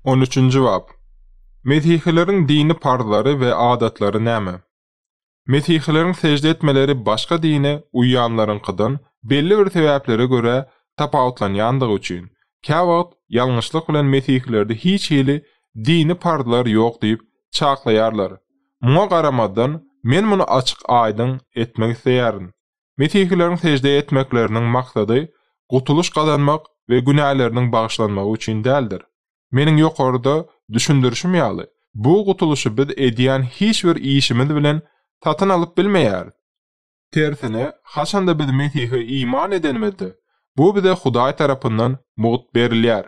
On üçünji bap. Mesihileriň dini parzlary we adatlary näme? Mesihileriň sežde etmeleri başga dine uýýanlaryňkydan belli bir sebäplere görä tapawutlanýandygy üçin, käwagt ýalňyşlyk bilen mesihilerde hiç hili dini parzlar ýok diýip çaklaýarlar. Muňa garamazdan, men muny açyk-aýdyň etmek isleýärin. Mesihileriň sežde etmekleriniň maksady gutulyş gazanmak we günäleriniň bagyşlanmagy üçin däldir. Meniň ýokarda düşündirişim ýaly, bu gutulyşy biz edýän hiç bir işimiz bilen satyn alyp bilmeýäris. Tersine, haçanda biz Mesihe iman edenimizde, bu bize Hudaý tarapyndan mugt berilýär.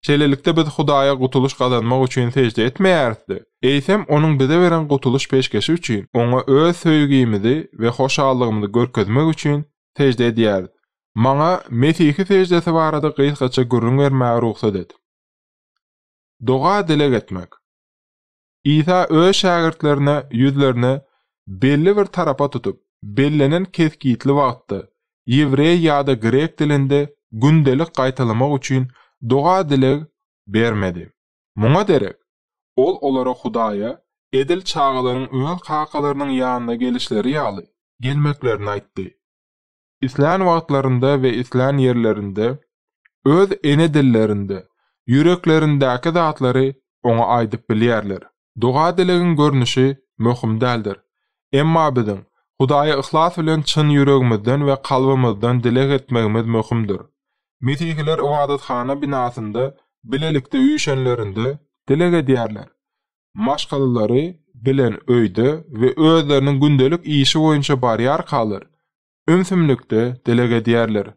Şeýlelikde biz Hudaýa gutulyş gazanmak üçin sežde etmeýäris-de, eýsem Onuň bize beren gutulyş peşgeşi üçin, Oňa öz söýgimizi we hoşallygymyzy görkezmek üçin sežde edýäris. Maňa Mesihi seždesi barada gysgaça gürrüň bermäge rugsat et. Doga-dileg etmek. Isa öz şägirtlerine ýüzlerini belli bir tarapa tutup, bellenen kesgitli wagtda, ýewreý ýa-da grek dilinde gündelik gaýtalamak üçin doga-dileg bermedi. Muňa derek, ol olara Hudaýa edil çagalaryň öz kakalarynyň ýanyna gelişleri ýaly gelmeklerini aýtdy. islän wagtlarynda we islän ýerlerinde öz ene dillerinde ýüreklerindäki zatlary Oňa aýdyp bilýärler. Doga-dilegiň görnüşi möhüm däldir. Emma biziň Hudaýa yhlas bilen çyn ýüregimizden we kalbymyzdan dileg etmegimiz möhümdir. Mesihiler ybadathana binasynda bilelikde üýşenlerinde dileg edýärler. maşgalalary bilen öýde we özleriniň gündelik işi boýunça barýarkalar, ümsümlikde dileg edýärler.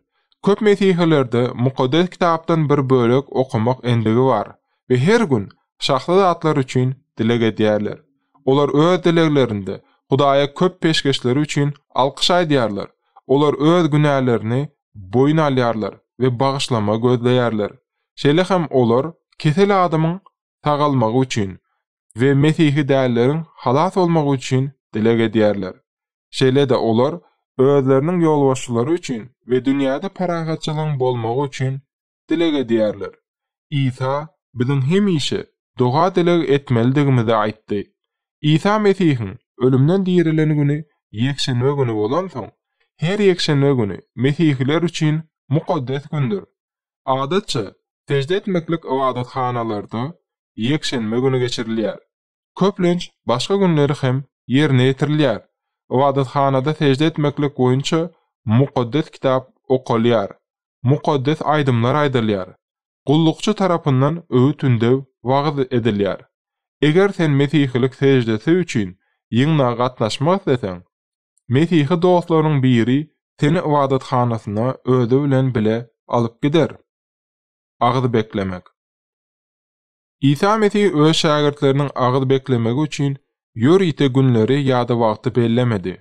Köp mesihilerde Mukaddes Kitapdan bir bölek okamak endigi bar we her gün şahsy zatlar üçin dileg edýärler. Olar öz dileglerinde Hudaýa köp peşgeşleri üçin alkyş aýdýarlar, olar öz günälerini boýun alýarlar we bagyşlama gözleýärler. Şeýle hem olar kesel adamyň sagalmagy üçin we mesihi dälleriň halas bolmagy üçin dileg edýärler. Şeýle-de olar özleriniň ýolbaşçylary üçin we dünýäde parahatçylygyň bolmagy üçin dileg edýärler. Isa biziň hemişe doga-dileg etmelidigimizi aýtdy. Isa Mesihiň ölümden dirilen güni ýekşenbe güni bolansoň, her ýekşenbe güni mesihiler üçin mukaddes gündür. Adatça, sežde etmeklik ybadathanalarda ýekşenbe güni geçirilýär. Köplenç, başga günleri hem ýerine ýetirilýär. Ybadathanada sežde etmeklik boýunça Mukaddes Kitap okalýar, mukaddes aýdymlar aýdylýar, gullukçy tarapyndan öwüt-ündew, wagyz edilýär. Eger sen mesihilik seždesi üçin ýygnaga gatnaşmak isleseň, Mesihi dostlaryň biri seni ybadathanasyna özi bilen bile alyp gider. Agyz beklemek. Isa Mesih öz şägirtleriniň agyz beklemegi üçin ýörite günleri ýa-da wagty bellemedi.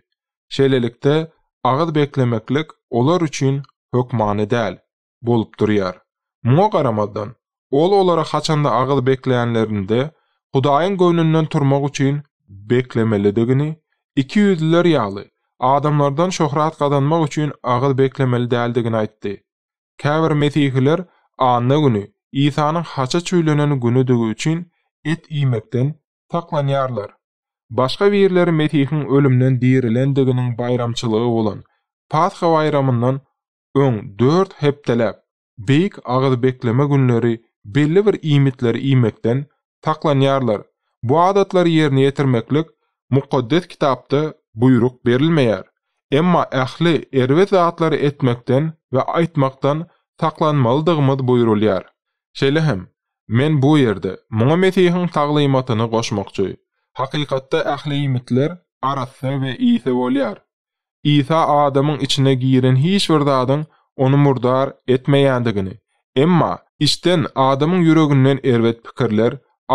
Şeýlelikde, agyz beklemeklik olar üçin hökmany däl. bolup durýar. Muňa garamazdan, Ol olara haçanda agyz bekleýänlerinde, Hudaýyň göwnünden turmak üçin beklemelidigini, ikiýüzlüler ýaly, adamlardan şöhrat gazanmak üçin agyz beklemeli däldigini aýtdy. Käbir Mesihiler anna güni, Isanyň haça çüýlenen günüdigi üçin, et iýmekden saklanýarlar. Başga birleri Mesihiň ölümden dirilendiginiň baýramçylygy bolan Pasha baýramyndan öň dört hepdeläp beýik agyzbekleme günleri belli bir iýmitleri iýmekden saklanýarlar, bu adatlary ýerine ýetirmeklik Mukaddes Kitapda buýruk berilmeýär, emma ähli erbet zatlary etmekden we aýtmakdan saklanmalydygymyz buýrulýar. Şeýle hem, men bu ýerde muňa Mesihiň taglymatyny goşmakçy. Hakykatda ähli iýmitler arassa we ýiti bolýar, Isa adamyň içine giren hiç bir zadyň ony murdar etmeýändigini, emma içden, adamyň ýüreginden erbet pikirler,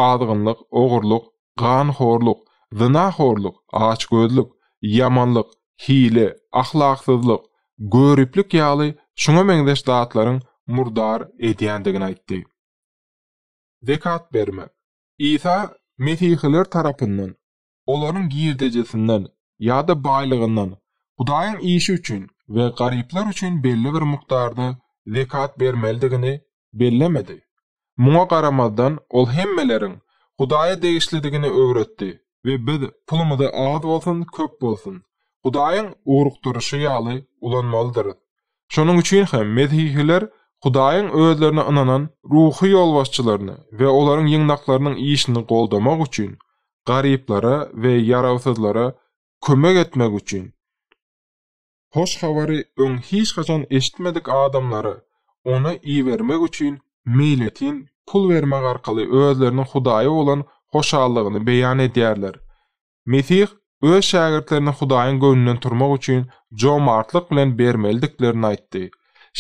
azgynlyk, ogurlyk, ganhorluk, zynahorluk, açgözlük, ýamanlyk, hile, ahlaksyzlyk, göriplik ýaly şuňa meňzeş zatlaryň murdar edýändigini aýtdy. Zekat bermek. Isa mesihiler tarapyndan olaryň girdejisinden ýa-da baýlygyndan Hudaýyň işi üçin we garyplar üçin belli bir mukdarda zekat bermelidigini bellemedi. Muňa garamazdan, ol hemmeleriň Hudaýa degişlidigini öwretdi we biz pulumyzy az bolsun, köp bolsun, Hudaýyň ugrukdyryşy ýaly ulanmalydyrys. Şonuň üçin hem mesihiler Hudaýyň özlerine ynanan ruhy ýolbaşçylaryny we olaryň ýygnaklarynyň işini goldamak üçin, garyplara we ýarawsyzlara kömek etmek üçin, Hoş Habary öň hiç haçan eşitmedik adamlary Ona ibermek üçin meýletin pul bermek arkaly özleriniň Hudaýa bolan hoşallygyny beýan edýärler. Mesih öz şägirtlerine Hudaýyň göwnünden turmak üçin jomartlyk bilen bermelidiklerini aýtdy.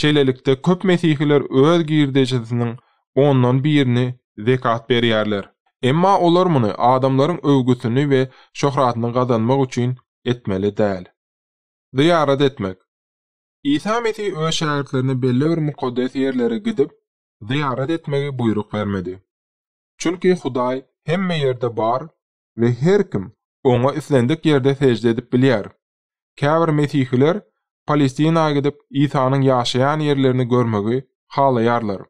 Şeýlelikde, köp mesihiler öz girdejisiniň ondan birini zekat berýärler. Emma olar muny adamlaryň öwgüsini we şöhratyny gazanmak üçin etmeli däl. Zyýarat etmek. Isa Mesih öz şägirtlerine belli bir mukaddes ýerlere gidip, zyýarat etmegi buýruk bermedi. Çünki Hudaý hemme ýerde bar we her kim Oňa islendik ýerde sežde edip bilýär. Käbir mesihiler Palestina gidip, Isanyň ýaşaýan ýerlerini görmegi halaýarlar.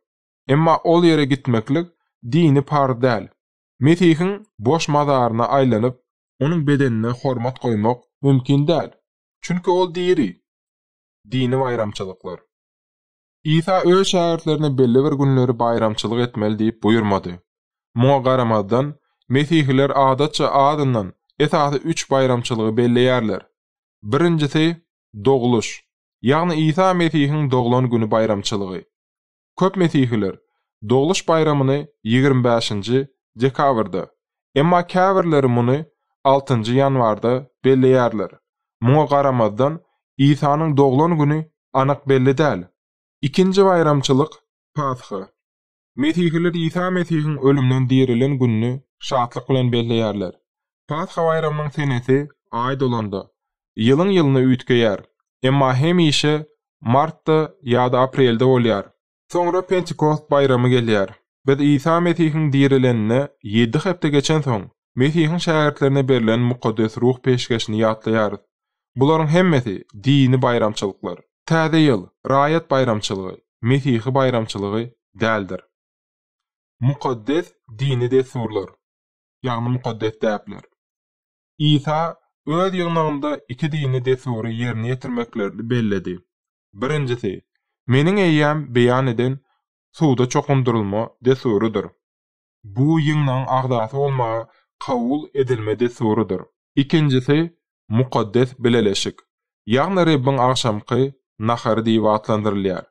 Emma ol ýere gitmeklik dini parz däl. Mesihiň boş mazaryna aýlanyp, Onuň bedenine hormat goýmak mümkin däl, çünki Ol diri. Dini baýramçylyklar. Isa öz şägirtlerine belli bir günleri baýramçylyk etmeli diýip buýurmady. Muňa garamazdan, Mesihiler adatça azyndan, esasy üç baýramçylygy belleýärler. Birinjisi, Dogluş, ýagny Isa Mesihiň doglan güni baýramçylygy. Köp mesihiler Dogluş baýramyny ýigrimi bäşinji dekabrda, Emma käbirleri muny altynjy ýanwarda belleýärler. Muňa garamazdan, Isanyň doglan güni anyk belli däl. Ikinji baýramçylyk, Pasha. Mesihiler Isa Mesihiň ölümden dirilen gününi şatlyk bilen belleýärler. Pasha baýramynyň senesi Aý dolanda, ýylyň-ýylyna üýtgeýär. Emma hemişe martda ýa-da aprelde bolýar. Soňra Pentikost baýramy gelýär. Biz Isa Mesihiň dirilenine ýedi hepde geçensoň, Mesihiň şägirtlerine berlen Mukaddes Ruh peşgeşini ýatlaýarys. Bularyň hemmesi, dini baýramçylyklar. Täze ýyl, raýat baýramçylygy, mesihi baýramçylygy däldir. Mukaddes dini dessurlar, ýagny mukaddes däpler. Isa Öz ýygnagynda iki dini dessury ýerine ýetirmeklerini belledi. Birinjisi, meniň eýýäm beýan eden suwda çokundyrylma dessurydyr. Bu ýygnagyň agzasy bolmagy kabul edilme dessurydyr. Ikinjisi, mukaddes bileleşik, ýagny Rebbiň agşamky nahary diýip atlandyrylýar.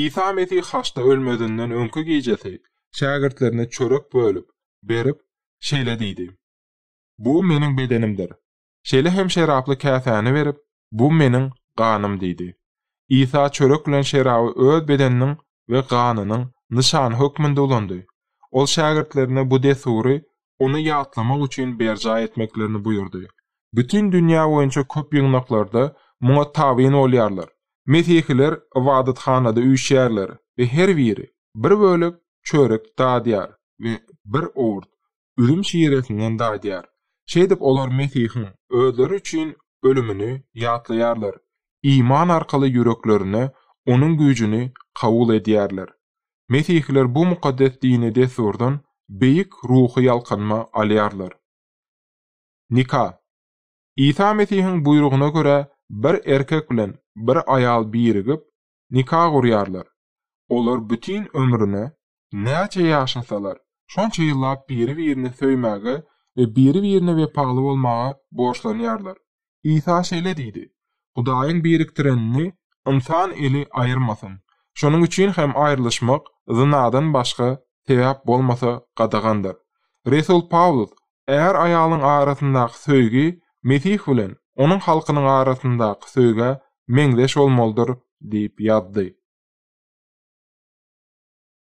Isa Mesih haçda ölmezinden öňki gijesi şägirtlerine çörek bölüp, berip, şeýle diýdi, Bu meniň bedenimdir. Şeýle hem şeraply käsäni berip, Bu Meniň ganym diýdi. Isa çörek bilen şeraby Öz bedeniniň we ganynyň nyşany hökmünde ulandy. Ol şägirtlerine bu dessury Ony ýatlamak üçin berjaý etmeklerini buýurdy. Bütin dünýä boýunça köp ýygnaklarda muňa tabyn bolýarlar. Mesihiler ybadathanada üýşýärler we her biri bir bölek çörek dadýar we bir owurt üzüm şiresinden dadýar. Şeýdip, olar Mesihiň özleri üçin ölümini ýatlaýarlar, iman arkaly ýüreklerine Onuň güýjüni kabul edýärler. Mesihliler bu mukaddes dini dessurdan beýik ruhy ýalkanma alýarlar. Nika. Isa Mesihiň buýrugyna görä, bir erkek bilen bir aýal birigip, nika gurýarlar. Olar bütin ömrüne, näçe ýaşasalar, şonça ýyllap biri-birini söýmäge we biri-birine wepaly bolmaga borçlanýarlar. Isa şeýle diýdi, Hudaýyň birikdirenini ynsan eli aýyrmasyn. Şonuň üçin hem aýrylyşmak zynadan başga sebäp bolmasa gadagandyr. Resul Pawlus Är-aýalyň arasyndaky söýgi Mesih bilen Onuň halkynyň arasyndaky söýgä meňzeş bolmalydyr diýip ýazdy.